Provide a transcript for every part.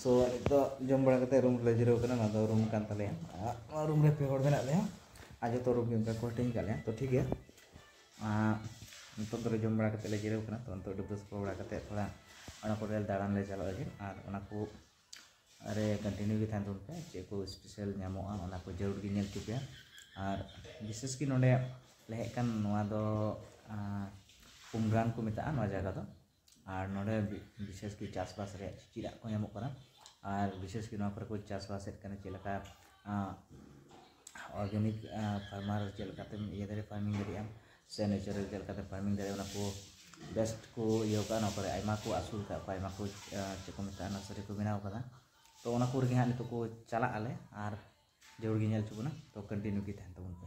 ᱥᱚ ᱱᱤᱛᱚᱜ ᱡᱚᱢ ᱵᱟᱲᱟ ᱠᱟᱛᱮ ᱨᱩᱢ ᱨᱮᱞᱮ ᱡᱤᱨᱟᱹᱣ ᱠᱟᱱᱟ ᱱᱚᱣᱟ ᱫᱚ ᱨᱩᱢ ᱠᱟᱱ ᱛᱟᱞᱮᱭᱟ ᱱᱚᱣᱟ ᱨᱩᱢ ᱨᱮ ᱯᱮ ᱦᱚᱲ ᱢᱮᱱᱟᱜ ᱞᱮᱭᱟ ᱟᱨ ᱡᱚᱛᱚ ᱨᱩᱢ ᱜᱮ ᱚᱱᱠᱟ ᱠᱚ ᱦᱟᱹᱴᱤᱧ ᱠᱟᱜ ᱞᱮᱭᱟ ᱛᱚ ᱴᱷᱤᱠ ᱜᱮᱭᱟ ᱱᱤᱛᱚᱜ ᱫᱚᱞᱮ ᱡᱚᱢ ᱵᱟᱲᱟ ᱠᱟᱛᱮ ᱞᱮ ᱡᱤᱨᱟᱹᱣ ᱠᱟᱱᱟ ᱛᱚ ᱱᱤᱛᱚᱜ ᱰᱩᱵᱽ ᱰᱩᱵᱽ ᱥᱟᱯᱷᱟ ᱵᱟᱲᱟ ᱠᱟᱛᱮ ᱛᱷᱚᱲᱟ ᱚᱱᱟ ᱠᱚᱨᱮ ᱫᱟᱬᱟᱱ ᱞᱮ ᱪᱟᱞᱟᱜ ᱞᱟᱹᱜᱤᱫ ᱟᱨ ᱚᱱᱟ ᱠᱚ ᱨᱮ ᱠᱚᱱᱴᱤᱱᱤᱭᱩ ᱜᱮ ᱛᱟᱦᱮᱱ ᱛᱟᱵᱚᱱ ᱯᱮ ᱪᱮᱫ ᱠᱚ ᱥᱯᱮᱥᱟᱞ ᱧᱟᱢᱚᱜᱼᱟ ᱚᱱᱟ ᱠᱚ ᱡᱟᱹᱨᱩᱲ ᱜᱮ ᱧᱮᱞ ᱦᱚᱪᱚ ᱯᱮᱭᱟ ᱟᱨ ᱵᱤᱥᱮᱥ ᱠᱤ ᱱᱚᱰᱮ ᱞᱮ ᱦᱮᱡ ᱠᱟᱱ ᱱᱚᱣᱟ ᱫᱚ ᱩᱢᱨᱟᱱ ᱠᱚ ᱢᱮᱛᱟᱜᱼᱟ ᱱᱚᱣᱟ ᱡᱟᱭᱜᱟ ᱫᱚ ᱟᱨ ᱱᱚᱸᱰᱮ ᱵᱤᱥᱮᱥ ᱠᱚᱨᱮ ᱪᱟᱥᱵᱟᱥ ᱨᱮᱭᱟᱜ ᱪᱮᱫ ᱟᱜ ᱠᱚ ᱧᱟᱢᱚᱜ ᱠᱟᱱᱟ ᱟᱨ ᱵᱤᱥᱮᱥ ᱠᱚᱨᱮ ᱱᱚᱣᱟ ᱠᱚᱨᱮ ᱠᱚ ᱪᱟᱥᱵᱟᱥᱮᱫ ᱠᱟᱱᱟ ᱪᱮᱫ ᱞᱮᱠᱟ ᱚᱨᱜᱟᱱᱤᱠ ᱯᱷᱟᱨᱢᱟᱨ ᱪᱮᱫ ᱞᱮᱠᱟᱛᱮᱢ ᱤᱭᱟᱹ ᱫᱟᱲᱮᱭᱟᱜᱼᱟ ᱯᱷᱟᱨᱢᱤᱝ ᱫᱟᱲᱮᱭᱟᱜᱼᱟᱢ ᱥᱮ ᱱᱮᱪᱟᱨᱮᱞ ᱪᱮᱫ ᱞᱮᱠᱟᱛᱮ ᱯᱷᱟᱨᱢᱤᱝ ᱫᱟᱲᱮᱭᱟᱜᱼᱟ ᱚᱱᱟ ᱠᱚ ᱵᱮᱥᱴ ᱠᱚ ᱤᱭᱟᱹᱣ ᱠᱟᱜᱼᱟ ᱱᱚᱣᱟ ᱠᱚᱨᱮ ᱟᱭᱢᱟ ᱠᱚ ᱟᱹᱥᱩᱞ ᱠᱟᱜ ᱠᱚᱣᱟ ᱟᱭᱢᱟ ᱠᱚ ᱪᱮᱫ ᱠᱚ ᱢᱮᱛᱟᱜᱼᱟ ᱱᱟᱨᱥᱟᱨᱤ ᱠᱚ ᱵᱮᱱᱟᱣ ᱠᱟᱫᱟ ᱛᱚ ᱚᱱᱟ ᱠᱚᱨᱮ ᱜᱮ ᱦᱟᱸᱜ ᱱᱤᱛᱚᱜ ᱠᱚ ᱪᱟᱞᱟᱜ ᱟᱞᱮ ᱟᱨ ᱡᱟᱹᱨᱩᱲ ᱜᱮ ᱧᱮᱞ ᱦᱚᱪᱚ ᱵᱚᱱᱟ ᱛᱚ ᱠᱚᱱᱴᱤᱱᱤᱭᱩ ᱜᱮ ᱛᱟᱦᱮᱱ ᱛᱟᱵᱚᱱ ᱯᱮ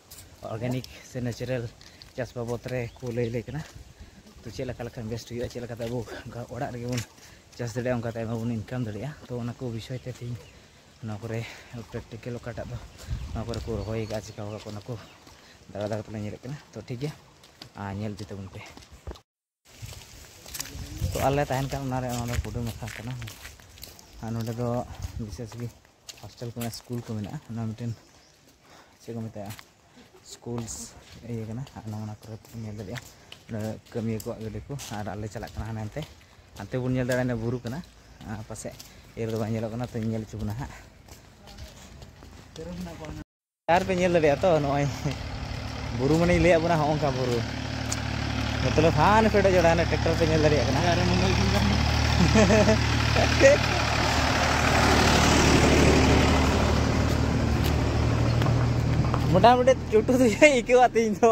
ᱚᱨᱜᱟᱱᱤᱠ ᱥᱮ ᱱᱮᱪᱟᱨᱮᱞ ᱪᱟᱥ ᱵᱟᱵᱚᱫ ᱨᱮ ᱠᱚ ᱞᱟᱹᱭ ᱟᱞᱮ ᱠᱟᱱᱟ ᱛᱚ ᱪᱮᱫ ᱞᱮᱠᱟ ᱞᱮᱠᱷᱟᱱ ᱵᱮᱥᱴ ᱦᱩᱭᱩᱜᱼᱟ ᱪᱮᱫ ᱞᱮᱠᱟᱛᱮ ᱟᱵᱚ ᱚᱲᱟᱜ ᱨᱮᱜᱮ ᱵᱚᱱ ᱪᱟᱥ ᱫᱟᱲᱮᱭᱟᱜᱼᱟ ᱚᱱᱠᱟᱛᱮ ᱟᱭᱢᱟ ᱵᱚᱱ ᱤᱱᱠᱟᱢ ᱫᱟᱲᱮᱭᱟᱜᱼᱟ ᱛᱚ ᱚᱱᱟ ᱠᱚ ᱵᱤᱥᱚᱭ ᱛᱮ ᱛᱮᱦᱮᱧ ᱱᱚᱣᱟ ᱠᱚᱨᱮ ᱯᱨᱮᱠᱴᱤᱠᱮᱞ ᱚᱠᱟᱴᱟᱜ ᱫᱚ ᱱᱚᱣᱟ ᱠᱚᱨᱮ ᱠᱚ ᱨᱚᱦᱚᱭ ᱠᱟᱜᱼᱟ ᱪᱤᱠᱟᱹᱣ ᱠᱟᱜᱼᱟ ᱠᱚ ᱚᱱᱟ ᱠᱚ ᱫᱟᱬᱟ ᱫᱟᱬᱟ ᱛᱮᱞᱮ ᱧᱮᱞᱮᱫ ᱠᱟᱱᱟ ᱛᱚ ᱴᱷᱤᱠ ᱜᱮᱭᱟ ᱟᱨ ᱧᱮᱞ ᱤᱫᱤ ᱛᱟᱵᱚᱱ ᱯᱮ ᱛᱚ ᱟᱞᱮ ᱛᱟᱦᱮᱱ ᱠᱟᱱ ᱚᱱᱟᱨᱮ ᱚᱱᱟ ᱫᱚ ᱠᱩᱰᱟᱹᱢ ᱟᱠᱷᱲᱟ ᱠᱟᱱᱟ ᱟᱨ ᱱᱚᱰᱮ ᱫᱚ ᱵᱤᱥᱮᱥ ᱜᱮ ᱦᱳᱥᱴᱮᱞ ᱠᱚ ᱢᱮᱱᱟᱜᱼᱟ ᱥᱠᱩᱞ ᱠᱚ ᱢᱮᱱᱟᱜᱼᱟ ᱚᱱᱟ ᱢᱤᱫᱴᱮᱱ ᱪᱮᱫ ᱠᱚ ᱢᱮᱛᱟᱜᱼᱟ ᱥᱠᱩᱞᱥ ᱤᱭᱟᱹ ᱠᱟᱱᱟ ᱟᱨ ᱱᱚᱣᱟ ᱚᱱᱟ ᱠᱚᱨᱮ ᱵᱚᱱ ᱧᱮᱞ ᱫᱟᱲᱮᱭᱟᱜᱼᱟ ᱱᱚᱰᱮ ᱠᱟᱹᱢᱤᱭᱟᱹ ᱠᱚᱣᱟᱜ ᱜᱟᱹᱰᱤ ᱠᱚ ᱟᱨ ᱟᱞᱮ ᱪᱟᱞᱟᱜ ᱠᱟᱱᱟ ᱦᱟᱱᱮ ᱦᱟᱱᱛᱮ ᱦᱟᱱᱛᱮ ᱵᱚᱱ ᱧᱮᱞ ᱫᱟᱲᱮᱭᱟᱜᱼᱟ ᱵᱩᱨᱩ ᱠᱟᱱᱟ ᱯᱟᱥᱮᱡ ᱤᱭᱟᱹ ᱨᱮᱫᱚ ᱵᱟᱝ ᱧᱮᱞᱚᱜ ᱠᱟᱱᱟ ᱛᱚᱧ ᱧᱮᱞ ᱦᱚᱪᱚ ᱵᱚᱱᱟ ᱦᱟᱸᱜ ᱟᱨ ᱯᱮ ᱧᱮᱞ ᱫᱟᱲᱮᱭᱟᱜᱼᱟ ᱛᱚ ᱱᱚᱜᱼᱚᱭ ᱵᱩᱨᱩ ᱢᱟᱱᱮᱧ ᱞᱟᱹᱭᱟᱫ ᱵᱚᱱᱟ ᱦᱚᱸᱜ ᱚᱱᱠᱟ ᱵᱩᱨᱩ ᱢᱚᱛᱞᱚᱵ ᱦᱟᱱ ᱯᱮᱰᱚᱜ ᱡᱚᱲᱟ ᱦᱟᱱᱮ ᱴᱨᱟᱠᱴᱚᱨ ᱯᱮ ᱧᱮᱞ ᱫᱟᱲᱮᱭᱟᱜ ᱠᱟᱱᱟ ᱢᱚᱴᱟᱢᱩᱴᱤ ᱪᱩᱴᱩ ᱫᱚ ᱟᱹᱭᱠᱟᱹᱣᱟ ᱛᱮᱦᱮᱧ ᱫᱚ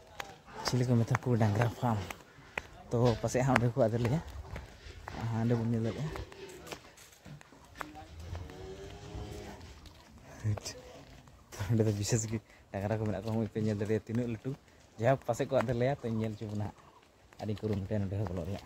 ᱪᱤᱞᱤ ᱠᱚ ᱢᱮᱛᱟ ᱠᱚ ᱰᱟᱝᱨᱟ ᱯᱷᱟᱨᱢ ᱛᱚ ᱯᱟᱥᱮᱡ ᱦᱟᱸᱜ ᱚᱸᱰᱮ ᱠᱚ ᱟᱫᱮᱨ ᱞᱮᱭᱟ ᱦᱟᱸᱰᱮ ᱵᱚᱱ ᱧᱮᱞ ᱫᱟᱲᱮᱭᱟᱜᱼᱟ ᱚᱸᱰᱮ ᱫᱚ ᱵᱤᱥᱮᱥ ᱜᱮ ᱰᱟᱝᱨᱟ ᱠᱚ ᱢᱮᱱᱟᱜ ᱠᱚᱣᱟ ᱢᱚᱡᱽ ᱯᱮ ᱧᱮᱞ ᱫᱟᱲᱮᱭᱟᱜᱼᱟ ᱛᱤᱱᱟᱹᱜ ᱞᱟᱹᱴᱩ ᱡᱟᱭᱦᱳᱠ ᱯᱟᱥᱮᱡ ᱠᱚ ᱟᱫᱮᱨ ᱞᱮᱭᱟ ᱛᱚᱧ ᱧᱮᱞ ᱦᱚᱪᱚ ᱵᱚᱱᱟ ᱦᱟᱸᱜ ᱟᱹᱰᱤ ᱠᱩᱨᱩᱢᱩᱴᱩᱭᱟ ᱱᱚᱸᱰᱮ ᱦᱚᱸ ᱵᱚᱞᱚᱜ ᱨᱮᱭᱟᱜ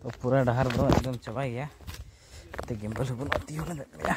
ᱛᱚ ᱯᱩᱨᱟᱹ ᱰᱟᱦᱟᱨ ᱫᱚ ᱮᱠᱫᱚᱢ ᱪᱟᱵᱟᱭ ᱜᱮᱭᱟ ᱛᱮ ᱜᱮᱢᱵᱟᱞ ᱦᱚᱸ ᱵᱟᱹᱱᱩᱜᱼᱟ ᱛᱤᱭᱳ ᱞᱮᱫ ᱞᱮᱭᱟ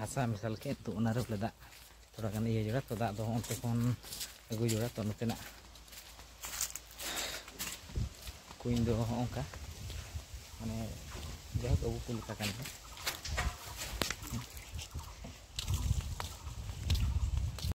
ᱦᱟᱥᱟ ᱢᱮᱥᱟᱞ ᱠᱮᱫ ᱛᱚ ᱚᱱᱟᱨᱮ ᱵᱚᱞᱮ ᱫᱟᱜ ᱛᱷᱚᱲᱟ ᱜᱟᱱ ᱤᱭᱟᱹ ᱡᱚᱲᱟ ᱛᱚ ᱫᱟᱜ ᱫᱚ ᱚᱱᱛᱮ ᱠᱷᱚᱱ ᱟᱹᱜᱩ ᱡᱚᱲᱟ ᱛᱚ ᱱᱚᱛᱮᱱᱟᱜ ᱠᱩᱧ ᱫᱚ ᱦᱚᱸ ᱚᱱᱠᱟ ᱢᱟᱱᱮ ᱡᱟᱭᱦᱳᱠ ᱟᱵᱚ ᱠᱚ ᱞᱮᱠᱟ ᱠᱟᱱ ᱜᱮᱭᱟ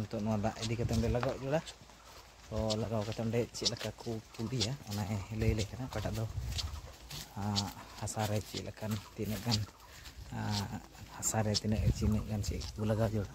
ᱱᱤᱛᱚᱜ ᱱᱚᱣᱟ ᱫᱟᱜ ᱤᱫᱤ ᱠᱟᱛᱮ ᱚᱸᱰᱮ ᱞᱟᱜᱟᱣ ᱡᱚᱲᱟ ᱛᱚ ᱞᱟᱜᱟᱣ ᱠᱟᱛᱮ ᱚᱸᱰᱮ ᱪᱮᱫ ᱞᱮᱠᱟ ᱠᱚ ᱯᱩᱰᱤᱭᱟ ᱚᱱᱟ ᱞᱟᱹᱭ ᱞᱮ ᱠᱟᱱᱟ ᱚᱠᱟᱴᱟᱜ ᱫᱚ ᱦᱟᱥᱟ ᱨᱮ ᱪᱮᱫ ᱞᱮᱠᱟᱱ ᱛᱤᱱᱟᱹᱜ ᱜᱟᱱ ᱦᱟᱥᱟ ᱨᱮ ᱛᱤᱱᱟᱹᱜ ᱛᱤᱱᱟᱹᱜ ᱜᱟᱱ ᱪᱮᱫ ᱠᱚ ᱞᱟᱜᱟᱣ ᱡᱚᱲᱟ